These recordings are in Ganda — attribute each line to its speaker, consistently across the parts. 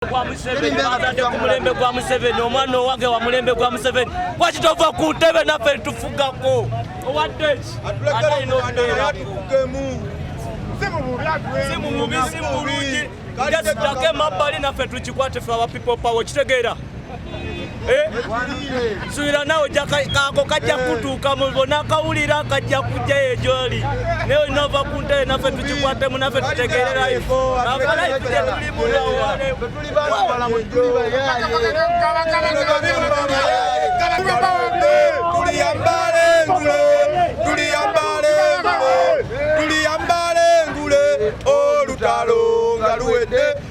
Speaker 1: gwa Museveni bazadde ku mulembe gwa Museveni omwana owange wa mulembe gwa Museveni kwaki tova ku ntebe naffe tufugako owadde ki atalina okubeera si mu bubi si mu bulungi just dako emabbali naffe tukikwate fe awa people power okitegeera Eh? suira nawe kako kajja kutuuka mubona kawulira kajja kujja eyo gyoli naye olina ova ku ntebe naffe tukikwatemu naffe tutegererayo tuliyambale ngule olutalo nga luwedde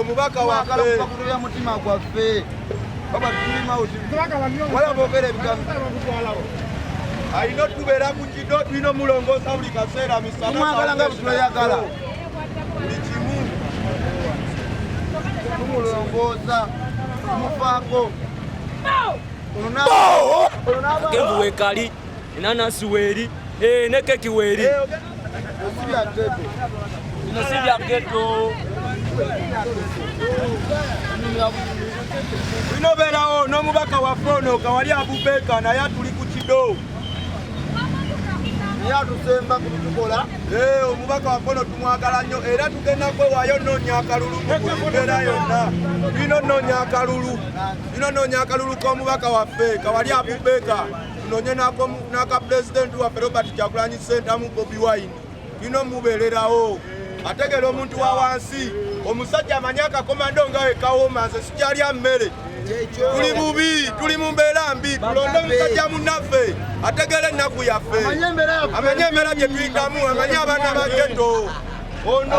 Speaker 1: omubaka wakalakubakuluya mutima gwaffe wala bogera ebigambo alina otubeera ku kido tulina omulongoosa buli kaseera misanamwagala nga butuleyagala buli kimu tumulongoosa tumufaako kenvu wekali enanasi weri eh, ne keki weri eh, bino si bya geto bino beerawo n'omubaka waffe ono kawali abubeeka naye atuli ku kido naye atusemba ku bitukola eh, omubaka waffe ono tumwagala nnyo era tugenda kwewaayo nnoonya akalulu mu mbeera yonna bino nnoonya akalulu Ino nonya akalulu k'omubaka waffe kawali abubeka tunonye n'aka pulezidenti waffe robert kyagulanyi sentamu bobi wine tulina omubeererawo ategeera omuntu wa wansi omusajja amanyi akakomando nga wekawoma nze sikyalya mmere tuli bubi tuli mu mbeera mbi tulonde omusajja munnaffe ategeera ennaku yaffe amanye embeera gye tuyitamu amanye abaana ba geto ono